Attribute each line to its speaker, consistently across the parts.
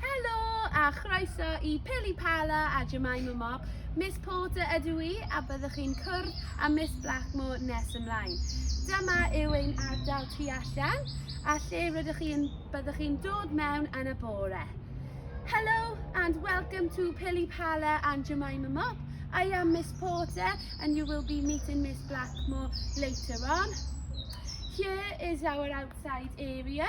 Speaker 1: Helo a chroeso i Pili Pala a Jemima Mob. Miss Porter ydw i a byddwch chi'n cwrdd â Miss Blackmore nes ymlaen. Dyma yw ein ardal tu allan a lle rydych chi'n byddwch chi'n dod mewn yn y bore. Hello and welcome to Pili Pala and Jemima Mob. I am Miss Porter and you will be meeting Miss Blackmore later on. Here is our outside area.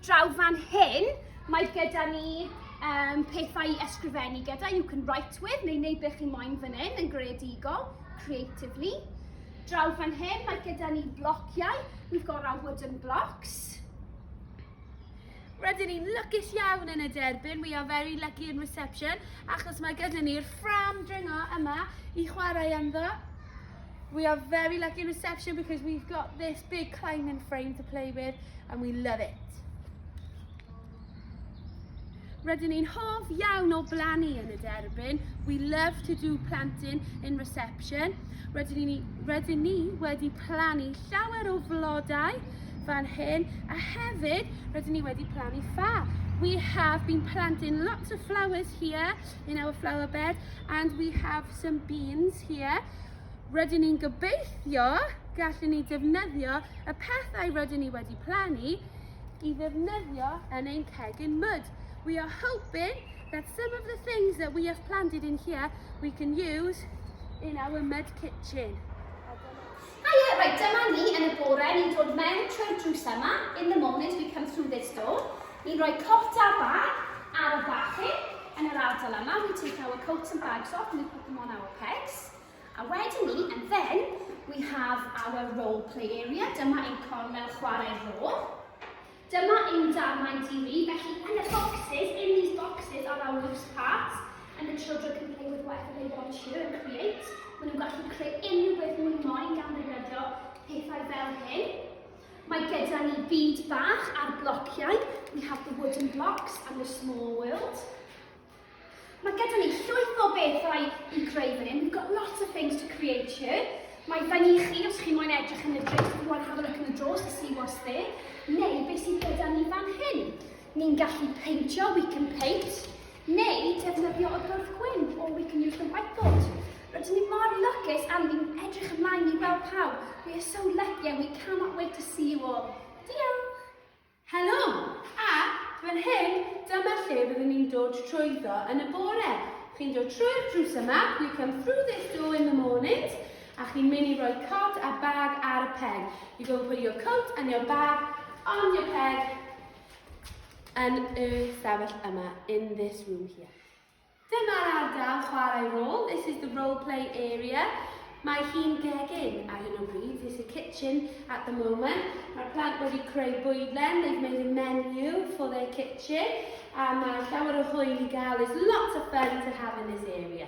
Speaker 2: Draw fan hyn, mae gyda ni um, pethau i ysgrifennu gyda, you can write with, neu wneud beth chi moyn fan hyn yn greadigol, creatively. Draw fan hyn, mae gyda ni blociau, we've got our wooden blocks.
Speaker 1: Rydyn ni'n lygus iawn yn y derbyn, we are very lucky in reception, achos mae gyda ni'r ffram dringo yma i chwarae ynddo. We are very lucky in reception because we've got this big climbing frame to play with and we love it. Rydyn ni'n hoff iawn o blannu yn y derbyn. We love to do planting in reception. Rydyn ni, rydyn ni wedi plannu llawer o flodau fan hyn a hefyd rydyn ni wedi plannu ffa. We have been planting lots of flowers here in our flower bed and we have some beans here. Rydyn ni'n gobeithio gallwn ni defnyddio y pethau rydyn ni wedi plannu i ddefnyddio yn ein cegin mud. We are hoping that some of the things that we have planted in here we can use in our mud kitchen. Hiya, right, dyma
Speaker 2: ni yn y bore, ni'n dod mewn trwy'r drws yma. In the mornings we come through this door. Ni'n rhoi cot a bag ar y bachyn yn yr ardal yma. We take our coats and bags off and we put them on our pegs. A wedyn ni, and then, we have our role play area. Dyma ein cornel chwarae rôl. Dyma ein darnau TV, felly yn y boxes, in these boxes are our loose parts, and the children can play with whatever they want to and create. Maen nhw'n gallu creu unrhyw beth mwyn moyn gan ddefnyddio pethau fel hyn. Mae gyda ni byd bach ar blociau. We have the wooden blocks and the small world. Mae gyda ni llwyth o bethau i greu fan hyn. We've got lots of things to create here. Mae fan i chi, os chi moyn edrych yn y drws, if you want to have a look in the drawers to see what's there, neu beth sydd gyda ni fan hyn. Ni'n gallu peintio, we can paint. Neu defnyddio y bwrdd gwyn o We Can Use the Whiteboard. Rydyn ni mor lwcus am fi'n edrych ymlaen i weld pawb. We are so lucky and we cannot wait to see you all. Diolch! Helo!
Speaker 1: A, fan hyn, dyma lle byddwn ni'n dod trwyddo yn y bore. Chi'n dod trwy'r drws yma, you come through this door in the mornings, a chi'n mynd i roi cod a bag ar y peg. You go and put your coat and your bag on your peg Yn y stafell yma, in this room here. Dyma'r ardal chwarae rôl, this is the role play area. Mae hi'n gegin ar hyn o bryd, this is the kitchen at the moment. Mae'r plant wedi creu bwydlen, they've made a menu for their kitchen. A mae llawer o hwyl i gael, there's lots of fun to have in this area.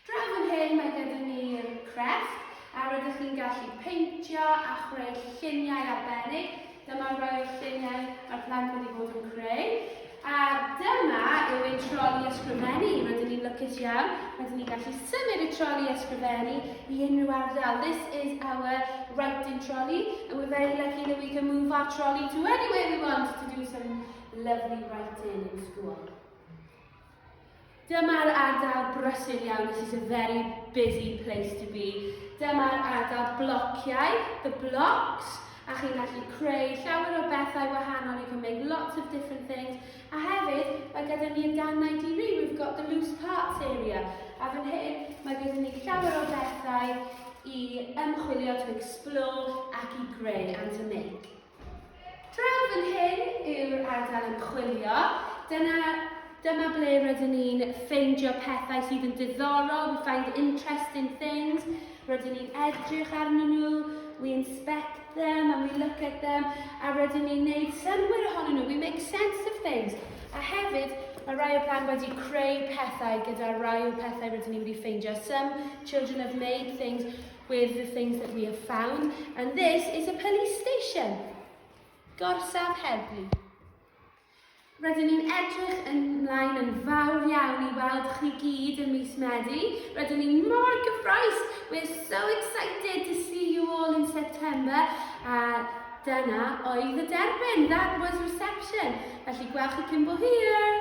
Speaker 1: Draw fan hyn mae gyda ni'r crefft a rydych chi'n gallu peintio a chreu lluniau arbennig. Dyma'r rai o'r lluniau mae'r plant wedi bod yn creu. A dyma yw ein troli ysgrifennu. Rydyn ni'n lwcus iawn. Rydyn ni'n gallu symud y troli ysgrifennu i unrhyw ardal. This is our writing trolley and we're very lucky that we can move our trolley to anywhere we want to do some lovely writing in school. Dyma'r ardal brysur iawn, this is a very busy place to be. Dyma'r ardal blociau, the blocks, a chi'n gallu creu llawer o bethau wahanol, you can make lots of different things. A hefyd, mae gyda ni y dannau diri, we've got the loose parts area. A fan hyn, mae gyda ni llawer o bethau i ymchwilio, to explore, ac i greu, and to make. Draw fan hyn yw'r ardal ymchwilio. Dyna, dyma ble rydyn ni'n ffeindio pethau sydd yn diddorol, we find interesting things, rydyn ni'n edrych arnyn nhw, we inspect them and we look at them, a rydyn ni'n neud synwyr ohonyn nhw, we make sense of things. A hefyd, mae rai o blant wedi creu pethau gyda rai o pethau rydyn ni wedi ffeindio. Some children have made things With the things that we have found, and this is a police station. Gorsaf Heddlu. Rydyn ni'n edrych yn mlaen yn fawr iawn i weld chi gyd yn mis Medi. Rydyn ni'n mor gyffroes. We're so excited to see you all in September. A dyna oedd y derbyn. That was reception. Felly gwelch chi cyn bo hir.